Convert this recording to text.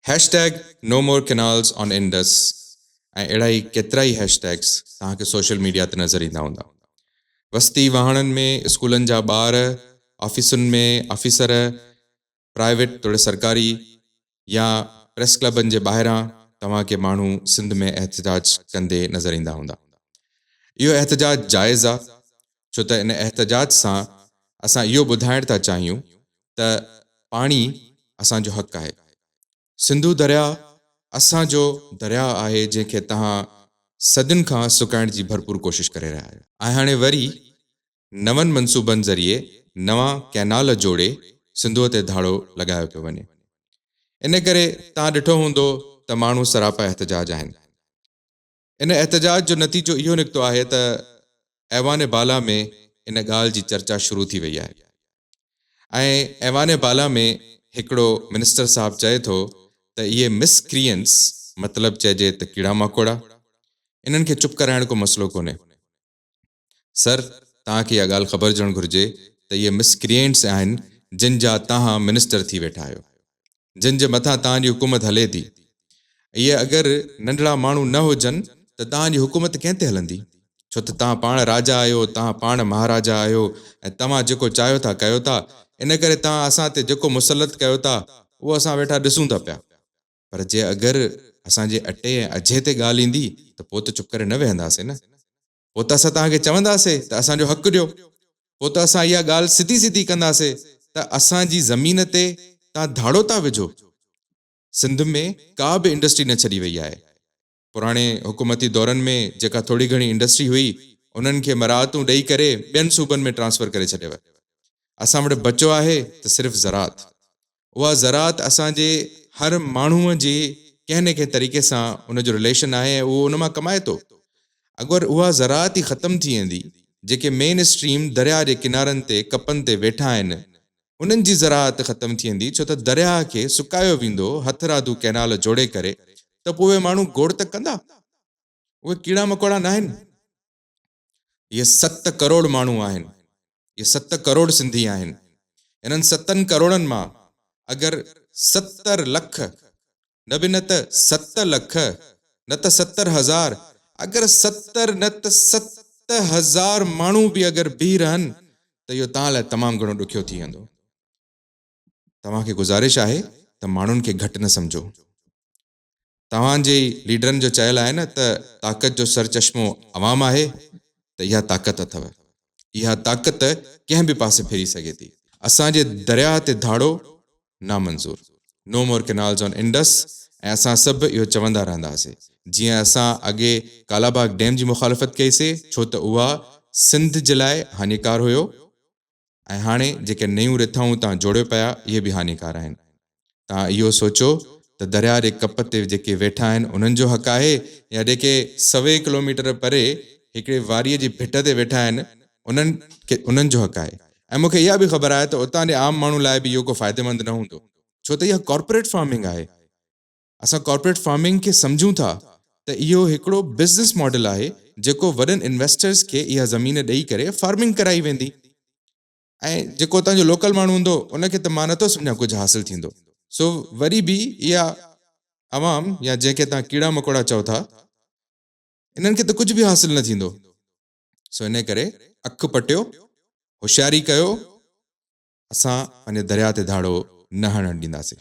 Hash tag no more canals on Indus ۽ اهڙا ئي ڪيترائي هيش ٽيگز توهان کي سوشل ميڊيا تي نظر ايندا هوندا. وستي واهڻن ۾ اسڪولن جا ٻار، آفيسن ۾ آفيسر، پرائيويٽ توڙي سرڪاري يا پريس ڪلبن جي ٻاهران توهان کي ماڻهو سنڌ ۾ احتجاج ڪندي نظر ايندا هوندا. اهو احتجاج جائز آ ڇو ته ان احتجاج سان اسان اهو ٻڌائڻ ٿا چاهيون ته پاڻي اسان جو حق آهي. سنڌو درياء اسان جو درياء آهي جنهن کي توهان صدين کان سڪائڻ جي ڀرپور ڪوشش ڪري رهيا آهيو. ۽ هاڻي وري نون منصوبن ذريعي نوان ڪئنال جوڙي سنڌوء تي ڌاڙو لڳايو پيو وڃي. ان ڪري توهان ڏٺو هوندو ته ماڻهو سراپا احتجاج آهن. ان احتجاج جو نتيجو اهو نڪتو آهي ته ايوان بالا ۾ ان ڳالهه جي چرچا شروع ٿي وئي آهي ۽ ايوان بالا ۾ هڪڙو منسٽر صاحب چئي ٿو ته اهي مس ڪريئنٽس مطلب چئجي ته ڪيڙا ماڪوڙا انهن کي چپ ڪرائڻ ڪو مسئلو ڪونهي سر، توهان کي اها ڳالهه خبر هجڻ گهرجي ته اهي مس ڪريئنٽس آهن جن جا توهان منسٽر ٿي ويٺا آهيو. جن جي مٿان توهان جي حڪومت هلي ٿي. اهي اگر ننڍڙا ماڻهو نه هجن ته توهان جي حڪومت ڪنهن تي هلندي؟ ڇو ته توهان پاڻ راجا آهيو، توهان پاڻ مهاراجا آهيو ۽ توهان جيڪو چاهيو ٿا ڪيو ٿا. ان ڪري توهان اسان تي جيڪو مسلط ڪيو ٿا اهو اسان ويٺا ڏسون ٿا پيا. پر جي اگر اسان جي اٽي ۽ اجهي تي ڳالهه ايندي ته پوء ته چپ ڪري نه ويهنداسين نه. پوء ته اسان توهان کي چونداسي ته اسان جو حق ڏيو. پوء ته اسان اها ڳالهه سڌي سڌي ڪنداسي ته اسان جي زمين تي توهان ڌاڙو ٿا وجهو. سنڌ ۾ ڪا به انڊسٽري نه ڇڏي وئي آهي. پراڻي حڪومتي دورن ۾ جيڪا ٿوري گهڻي انڊسٽري هئي انهن کي مراعتون ڏئي ڪري ٻين صوبن ۾ ٽرانسفر ڪري ڇڏيو اسان وٽ بچو آهي ته صرف زراعت اها زراعت اسان جي هر ماڻهو جي ڪنهن نه ڪنهن طريقي سان ان جو رليشن آهي ۽ اهو ان مان ڪمائي ٿو اگر اها زراعت ئي ختم ٿي ويندي جيڪي مين اسٽريم درياء جي ڪنارن تي ڪپن تي ويٺا آهن انهن جي زراعت ختم ٿي ويندي ڇو ته درياهه کي سڪايو ويندو، هٿرادو ڪئنال جوڙي ڪري ته پوء اهي ماڻهو گوڙ ته ڪندا؟ اهي ڪيڙا مڪوڙا ناهن. اهي ست ڪروڙ ماڻهو آهن. اهي ست ڪروڙ سنڌي آهن. انهن ستن ڪروڙن مان اگر ستر لک نه به نه ته ست لک، نه ته ستر هزار، اگر ستر نه ته ست هزار ماڻهو به اگر بيهي رهن ته اهو توهان لاء تمام گهڻو ڏکيو ٿي ويندو. توهان کي گذارش آهي ته ماڻهن کي گهٽ نه سمجهو. توهان جي ئي ليڊرن جو چيل آهي نه ته طاقت جو سرچشمو عوام آهي ته اها طاقت اٿو. اها طاقت ڪنهن به پاسي ڦري سگهي ٿي. اسان جي درياهه تي ڌاڙو نامنظور. No more canals on Indus ۽ اسان سڀ اهو چوندا رهنداسين. جيئن اسان اڳي ڪالاباغ ڊيم جي مخالفت ڪئي سي ڇو ته اها سنڌ جي لاء هاڃيڪار هيو ۽ هاڻي جيڪي نيون رٿائون اتان جوڙيو پيا اهي به هاڃيڪار آهن. توهان اهو سوچو ته درياء جي ڪپ تي جيڪي ويٺا آهن انهن جو حق آهي يا جيڪي سوين ڪلوميٽر پري هڪڙي واريء جي ڀٽ تي ويٺا آهن انهن کي انهن جو حق آهي ۽ مون کي اها به خبر آهي ته اتان جي عام ماڻهو لاء به اهو ڪو فائديمند نه هوندو ڇو ته اها ڪارپوريٽ فارمنگ آهي اسان ڪارپوريٽ فارمنگ کي سمجهون ٿا ته اهو هڪڙو بزنس ماڊل آهي جيڪو وڏن انويسٽرز کي اها زمين ڏئي ڪري فارمنگ ڪرائي ويندي ۽ جيڪو اتان جو لوڪل ماڻهو هوندو ان کي ته مان نٿو سمجهان ڪجهه حاصل ٿيندو سو وري به اها عوام يا جنهن کي توهان ڪيڙا مڪوڙا چئو ٿا انهن کي ته ڪجهه به حاصل نه ٿيندو سو انهي ڪري اک پٽيو هوشياري ڪيو اسان پنهنجي درياهه تي ڌاڙو نه هڻڻ ڏينداسين.